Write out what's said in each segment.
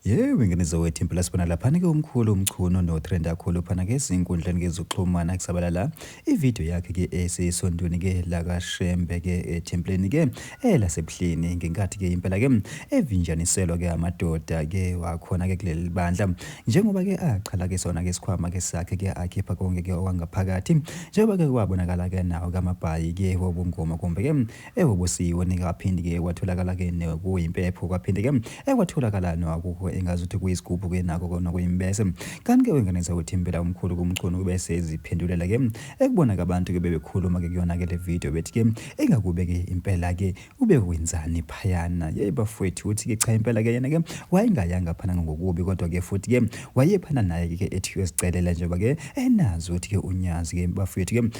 Yew ingane zowethu impela sibona laphana ke umkhulu umchunu no trend akhulu phana ke sinkundleni ke zoxhumana kusabalala ivideo yakhe ke esesondweni ke la ka Shembe ke ethempleni ke ela sebuhleni ngenkathi ke impela ke evinjaniselwa ke amadoda ke wakhona ke kuleli bandla njengoba ke achala ke sona ke sikhwama ke sakhe ke akhipha konke ke owangaphakathi njengoba ke kwabonakala ke nawo kamabhayi ke wobungoma kumbe ke Ewu ubusiwe nikaphindi ke kwatholakala ke nokuyimpepho kwaphinde ke ekwatholakala nokukho engazi ukuthi kuyisigubhu ke nako kona kuyimbese kanti ke wenganisa ukuthi impela umkhulu kumchunu kube seziphendulela ke ekubona ke abantu ke bebekhuluma ke kuyona ke le video bethi ke ingakube ke impela ke ube wenzani phayana yey bafwethu uthi ke cha impela ke yena ke wayengayanga phana ngokubi kodwa ke futhi ke wayephana naye ke ethi uyozicelela njengoba ke enazi ukuthi ke unyazi ke bafwethu ke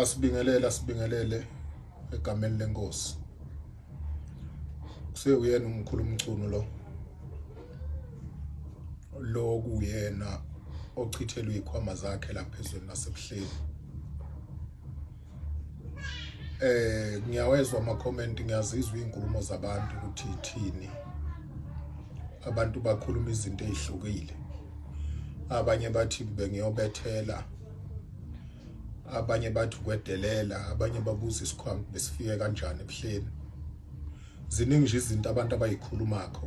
asibingelele asibingelele egameni lenkosi kusewuyena umkhulu umchunu lo lo kuyena ochithelwe ikhwama zakhe lapha ezweni lasebuhleni eh ngiyawezwa ama comment ngiyazizwa izinkulumo zabantu ukuthi ithini abantu bakhuluma izinto ezihlukile abanye bathi bengiyobethela abanye bathi ukwedelela abanye babuza isikhwama besifike kanjani ebuhleni ziningi nje izinto abantu abayikhulumako